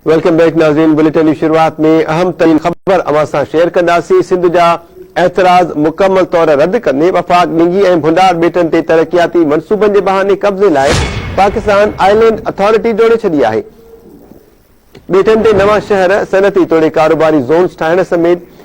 Welcome back ناظرين bulletin جي شروعات ۾ اهم ترين خبر اوهان سان شيئر ڪنداسين سنڌ جا اعتراض مڪمل طور رد ڪندي وفاق ڏنگي ۽ ڀنڊار ٻيٽن تي ترقياتي منصوبن جي بهاني قبضي لاء پاڪستان آئلينڊ اٿارٽي جوڙي ڇڏي آهي ٻيٽن تي نوان شهر صنعتي توڙي ڪاروباري زونز ٺاهڻ سميت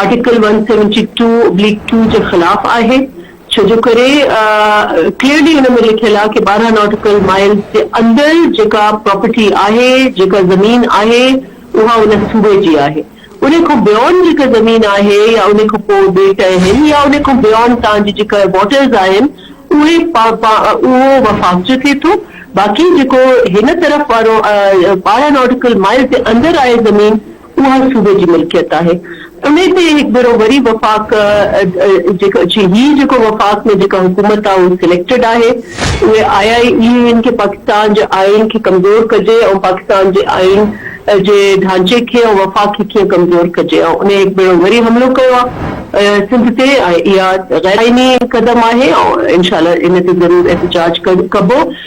article one seventy two oblique two جي خلاف آهي ڇو جو ڪري ڪليئرلي ان ۾ لکيل آهي ڪي ٻارهن ناٽيڪل مائلز جي اندر جيڪا پراپرٽي آهي جيڪا زمين آهي اها ان صوبي جي آهي انهي کان بيونڊ جيڪا زمين آهي يا انهي کان پوء ٻيٽ اهن يا انهي کان بيونڊ تان جي جيڪا واٽرز آهن اهي اهو وفاق جو ٿئي ٿو باقي جيڪو هن طرف وارو ٻارهن ناٽيڪل مائلز جي اندر آهي زمين اها صوبي جي ملڪيت آهي. انهي تي هڪ ڀيرو وري وفاق جي هي جيڪو وفاق ۾ جيڪا حڪومت آهي اها سليڪٽيڊ آهي اهي آئي آئي اي هن کي پاڪستان جي آئين کي ڪمزور ڪجي ۽ پاڪستان جي آئين جي ڍانچي کي ۽ وفاق کي ڪيئن ڪمزور ڪجي ۽ انهي هڪ ڀيرو وري حملو ڪيو آهي سنڌ تي ۽ اها غيرآئيني قدم آهي ۽ انشاء الله ان تي ضرور احتجاج ڪبو.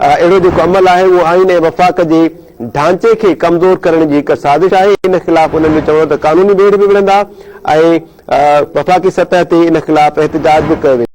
اهڙو جيڪو عمل آهي اهو آئين ۽ وفاق جي ڍانچي کي ڪمزور ڪرڻ جي هڪ سازش آهي، ان خلاف انهن جو چوڻ هو ته قانوني ويڙهه به وڙهندا ۽ وفاقي سطح تي ان خلاف احتجاج به ڪيو ويندو.